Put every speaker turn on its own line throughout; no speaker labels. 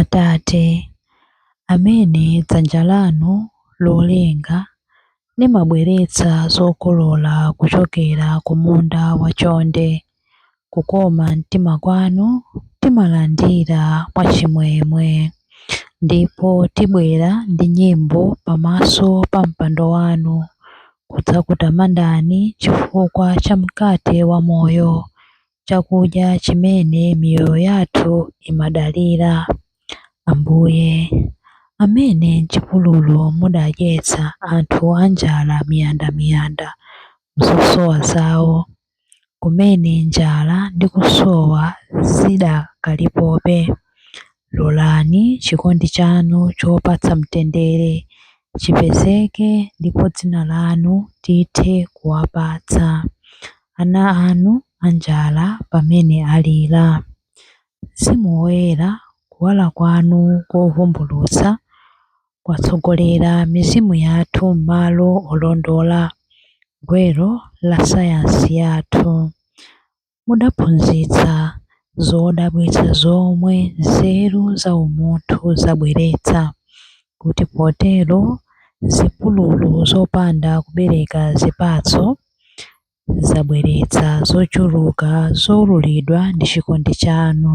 Atate, amene dzanja lanu lolenga limabweretsa zokolola kuchokera ku munda wa chonde, kukoma mtima kwanu timalandira mwa chimwemwe, ndipo tibwera ndi nyimbo pamaso pa mpando wanu kudzakutamandani chifukwa cha mkate wa moyo, chakudya chimene miyoyo yathu imadalira. Ambuye, amene m'chipululu mudadyetsa anthu anjala miyandamiyanda m'zosowa zao, kumene njala ndi kusowa zidakalipobe, Lolani chikondi chanu chopatsa mtendere chipezeke ndipo dzina lanu tithe kuwapatsa ana anu anjala pamene alira. Mzimu Woyera, kuwala kwanu kovumbulutsa kwatsogolera mizimu yathu m'malo olondola, gwero la sayansi yathu. mudaphunzitsa zodabwitsa zomwe nzeru za umunthu zabweretsa, kuti potero zipululu zopanda kubereka zipatso zabweretsa zochuluka zoululidwa ndi chikondi chanu.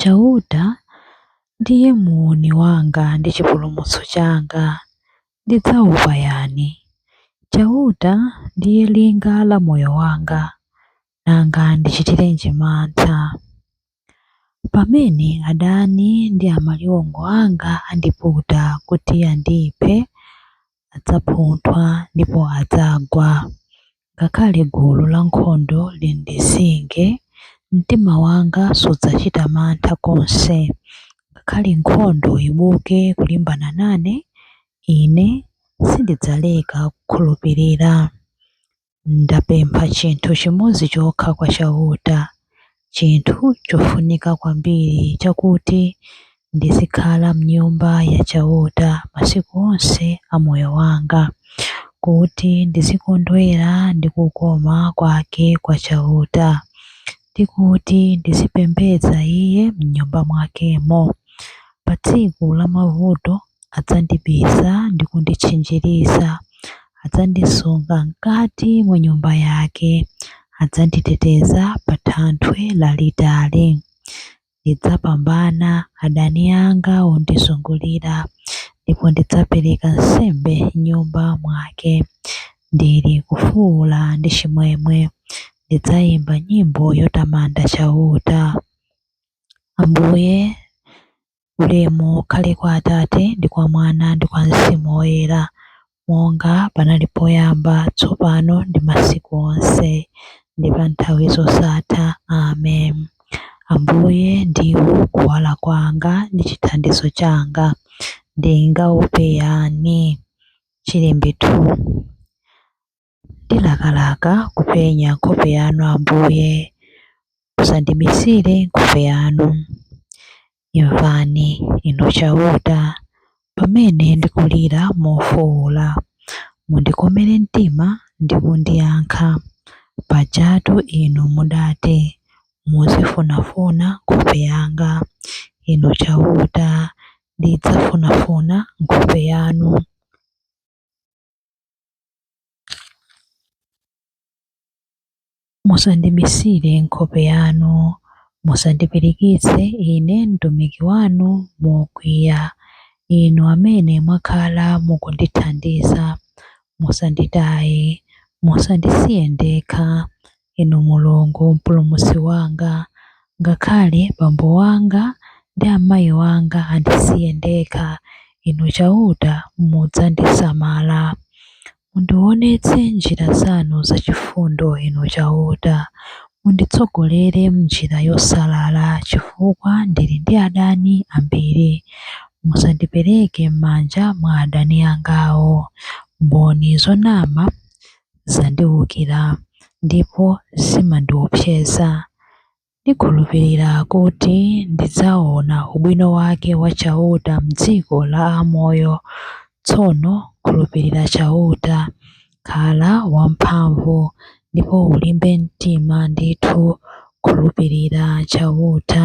Chauta ndiye muuni wanga ndi chipulumutso changa, ndidzaopa yani? Chauta ndiye linga la moyo wanga, nanga ndichitirenji mantha? Pamene adani ndi amaliwongo anga andiputa kuti andiphe, adzaphunthwa ndipo adzagwa. Ngakhale gulu lankhondo lindizinge, mtima wanga sudzachita mantha konse. Ngakhale nkhondo ibuke kulimbana nane, ine sindidzaleka kukhulupirira. Ndapempha chinthu chimodzi chokha kwa Chauta, chinthu chofunika kwambiri, chakuti ndizikhala m'Nyumba ya Chauta masiku onse a moyo wanga, kuti ndizikondwera ndi kukoma kwake kwa Chauta, ndi kuti ndizipembedza Iye m'Nyumba mwakemo. Pa tsiku la mavuto adzandibisa ndi kunditchinjiriza, adzandisunga m'kati mwa nyumba yake, adzanditeteza pa thanthwe lalitali. Ndidzapambana adani anga ondizungulira, ndipo ndidzapereka nsembe m'nyumba mwake. Ndili kufuwula ndi chimwemwe, ndidzayimba nyimbo yotamanda Chauta. Ambuye, Ulemu ukhale kwa Atate, ndi kwa Mwana, ndi kwa Mzimu Woyera, monga panali poyamba, tsopano, ndi masiku onse, ndi pa nthawi zosatha. Amen. Ambuye ndiwo kuwala kwanga ndi chithandizo changa, ndingaope yani? Chilimbi 2. Ndilakalaka kupenya nkhope yanu, Ambuye, musandibisire nkhope yanu. Imvani, Inu Chauta, pamene ndikulira mofuula, mundikomere mtima ndi kundiyankha. Pajatu Inu mudati, muzifunafuna nkhope yanga. Inu Chauta, ndidzafunafuna nkhope yanu. Musandibisire nkhope yanu, musandipirikitse ine mtumiki wanu mokwiya, Inu amene mwakhala mukundithandiza. Musanditaye, musandisiye ndekha, Inu Mulungu, Mpulumutsi wanga, ngakhale bambo wanga ndi amayi wanga andisiye ndekha, Inu Chauta mudzandisamala. Mundiwonetse njira zanu zachifundo, Inu Chauta. Munditsogolere m'njira yosalala, chifukwa ndili ndi adani ambiri. Musandipereke m'manja mwa adani angawo, mboni zonama zandiwukira ndipo zimandiopseza. Ndikhulupirira kuti ndidzaona ubwino wake wa Chauta m'dziko la amoyo. Tsono khulupirira Chauta. Khala wamphamvu, ndipo ulimbe mtima ndithu. Khulupirira Chauta.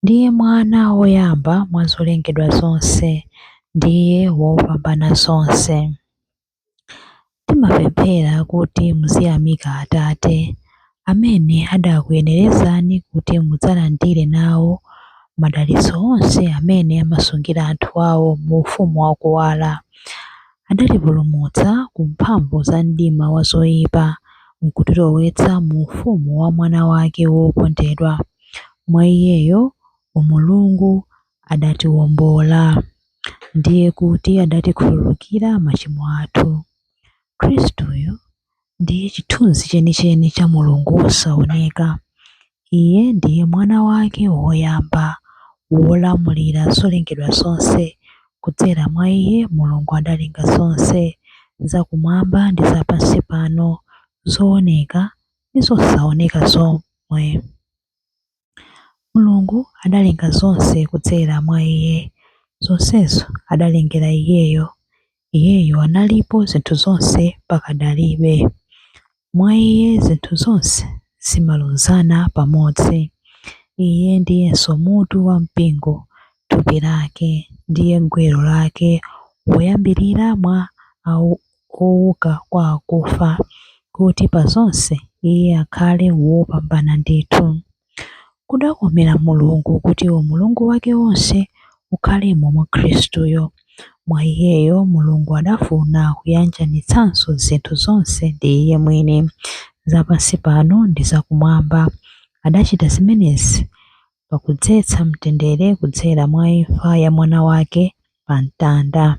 Ndiye mwana woyamba mwa zolengedwa zonse. Ndiye wopambana zonse. Timapemphera kuti muziyamika Atate, amene adakuyenerezani kuti mudzalandire nawo madalitso onse amene amasungira anthu awo mu ufumu wa kuwala. Adatipulumutsa ku mphamvu za mdima wa zoipa, nkutilowetsa mu ufumu wa Mwana wake wokondedwa. Mwa Iyeyo Mulungu adatiwombola, ndiye kuti adatikhululukira machimo athu. Khristuyo ndiye chithunzi chenicheni cha Mulungu wosaoneka. Iye ndiye Mwana wake woyamba, wolamulira zolengedwa zonse. Kudzera mwa Iye Mulungu adalenga zonse, zakumwamba ndi zapansi pano, zooneka ndi zosaoneka zomwe. Mulungu adalenga zonse kudzera mwa Iye, zonsezo adalengera Iyeyo, Iyeyo analipo zinthu zonse pakadalibe. Mwa Iye zinthu zonse zimalunzana pamodzi. Iye ndiyenso mutu wa mpingo, thupi lake, ndiye gwero lake, woyambirira mwa. ouka kwa akufa, kuti pa zonse Iye akhale wopambana ndithu. Kudakomera Mulungu kuti Umulungu wake wonse ukhalemo mwa Khristuyo. Mwa Iyeyo Mulungu adafuna kuyanjanitsanso zinthu zonse ndi Iye mwini, za pansi pano ndi za Kumwamba. Adachita zimenezi pakudzetsa mtendere kudzera mwa imfa ya Mwana wake pa mtanda.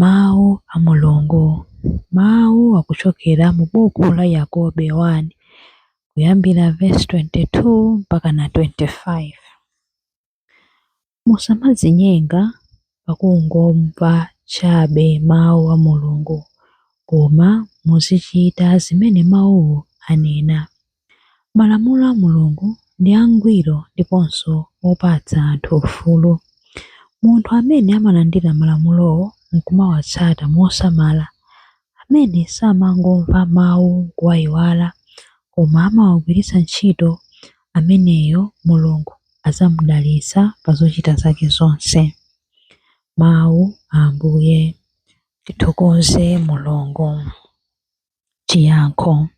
Mawu a Mulungu, mawu akuchokera mu buku la Yakobe 1 kuyambira vesi 22 mpakana 25. Musamadzinyenga pakungomva chabe mawu a Mulungu, koma muzichita zimene mawuwo anena. Malamulo a Mulungu ndi angwiro ndiponso opatsa anthu ufulu. Munthu amene amalandira malamulowo n'kumawatsata mosamala, amene samangomva mawu n'kuwaiwala koma amawagwiritsa ntchito, ameneyo Mulungu adzamudalitsa pa zochita zake zonse. Mawu a Ambuye. Tithokoze Mulungu. chiyankho.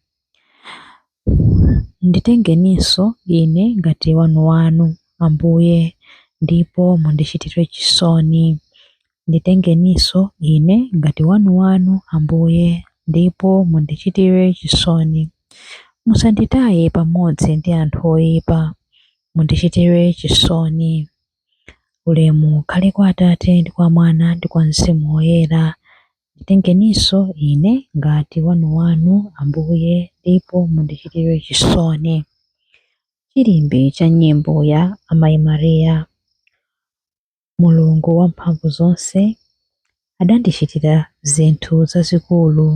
Nditengeninso ine ngati wanu wanu, Ambuye, ndipo mundichitire chisoni. Nditengeninso ine ngati wanu wanu, Ambuye, ndipo mundichitire chisoni. Musanditaye pamodzi ndi anthu oyipa, mundichitire chisoni. Ulemu ukhale kwa Atate ndi kwa Mwana ndi kwa Mzimu Woyera. Nditengeninso ine ngati wanuwanu, Ambuye, ndipo mundichitire chisoni. Chilimbi cha Nyimbo ya Amayi Maria. Mulungu Wamphamvuzonse adandichitira zinthu zazikulu,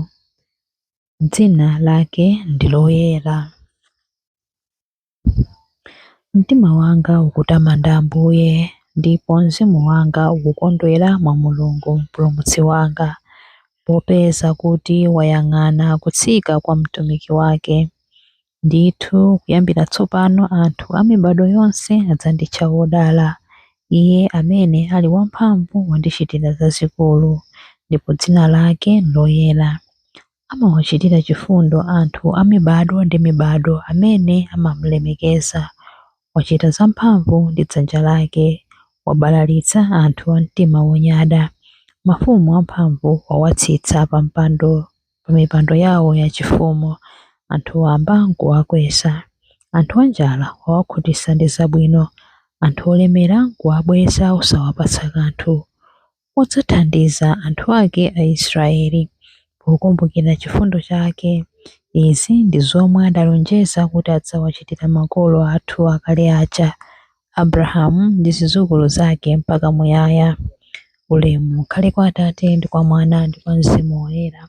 dzina lake ndi loyera. Mtima wanga ukutamanda Ambuye, ndipo mzimu wanga ukukondwera mwa Mulungu Mpulumutsi wanga, popeza kuti wayang'ana kutsika kwa mtumiki wake. Ndithu kuyambira tsopano anthu a mibado yonse adzanditcha wodala. Iye amene ali wamphamvu wandichitira zazikulu, ndipo dzina lake n'loyera. Amawachitira chifundo anthu a mibado ndi mibado amene amamulemekeza. Wachita zamphamvu ndi dzanja lake, wabalalitsa anthu a mtima wonyada. Mafumu amphamvu wawatsitsa pamipando yawo yachifumu. Anthu wamba n'kuwakweza. Anthu anjala wawakhutitsa ndi zabwino. Anthu olemera n'kuwabweza osawapatsa kanthu. wadzathandiza anthu ake Aisraeli pokumbukira chifundo chake. Izi ndi zomwe adalonjeza kuti adzawachitira makolo athu akale aja, Abrahamu ndi zidzukulu zake mpaka muyaya. Ulemu ukhale kwa Atate ndi kwa Mwana ndi kwa Mzimu Woyera,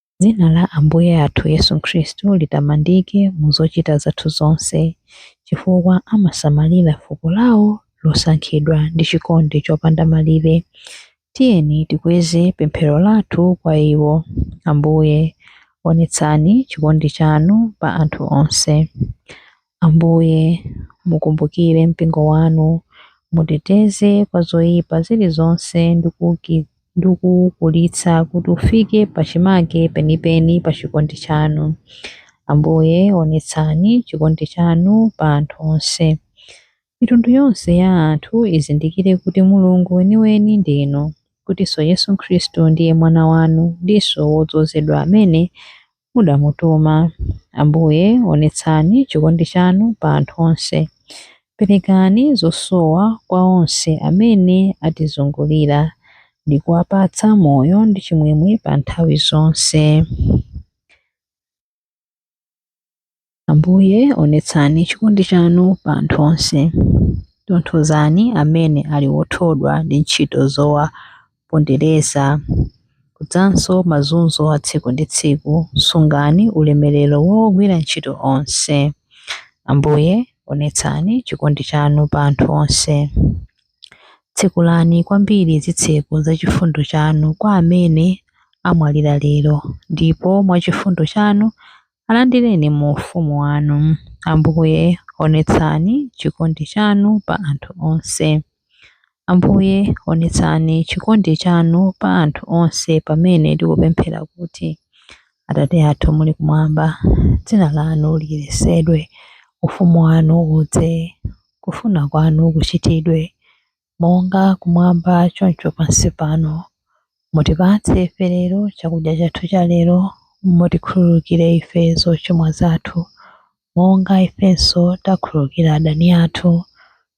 Dzina la Ambuye athu Yesu Khristu litamandike mu zochita zathu zonse, chifukwa amasamalira fuko lawo losankhidwa ndi chikondi chopanda malire. Tiyeni tikweze pemphero lathu kwa iwo. Ambuye, onetsani chikondi chanu pa anthu onse. Ambuye, mukumbukire mpingo wanu, muuteteze kwa zoyipa zilizonse ndi kuukulitsa kuti ufike pachimake penipeni pa chikondi chanu. Ambuye, onetsani chikondi chanu pa anthu onse. Mitundu yonse ya anthu izindikire kuti Mulungu weniweni ndinu, kutinso Yesu Khristu ndiye Mwana wanu ndinso wodzozedwa amene mudamutuma. Ambuye, onetsani chikondi chanu pa anthu onse. Perekani zosowa kwa onse amene atizungulira ndi kuwapatsa moyo ndi chimwemwe pa nthawi zonse. Ambuye, onetsani chikondi chanu pa anthu onse. Tonthozani amene ali othodwa ndi ntchito zowapondereza kudzanso mazunzo a tsiku ndi tsiku. Sungani ulemerero wogwira ntchito onse. Ambuye, onetsani chikondi chanu pa anthu onse. Tsekulani kwambiri zitseko za chifundo chanu kwa amene amwalira lero, ndipo mwa chifundo chanu Alandireni mu ufumu wanu, Ambuye, onetsani chikondi chanu pa anthu onse. Ambuye, onetsani chikondi chanu pa anthu onse pamene tikupemphera kuti, Atate athu muli kumwamba, dzina lanu liyeretsedwe, ufumu wanu udze, kufuna kwanu kuchitidwe monga kumwamba choncho pansi pano. Mutipatse ife lero chakudya chathu cha lero. Mutikhululukire ife zochimwa zathu, monga ifenso takhululukira adani athu.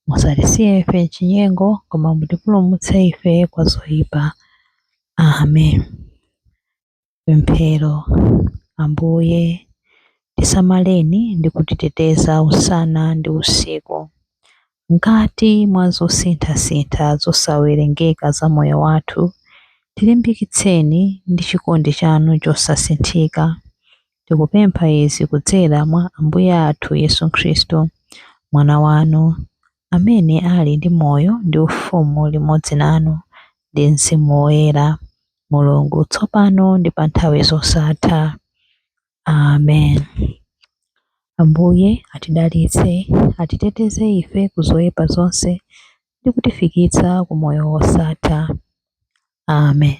Musatisiye ife m'chinyengo, koma mutipulumutse ife kwa zoyipa. Amen. Pemphero. Ambuye, tisamaleni ndi kutiteteza usana ndi usiku. Mkati mwa zosinthasintha zosawerengeka za moyo wathu, tilimbikitseni ndi chikondi chanu chosasinthika. Tikupempha izi kudzera mwa Ambuye athu Yesu Khristu, Mwana wanu, amene ali ndi moyo ndi ufumu limodzi nanu ndi Mzimu Woyera. Mulungu, tsopano ndi pa nthawi zosatha. Amen. Ambuye atidalitse, atiteteze ife ku zoyipa zonse ndi kutifikitsa ku moyo wosatha. Amen.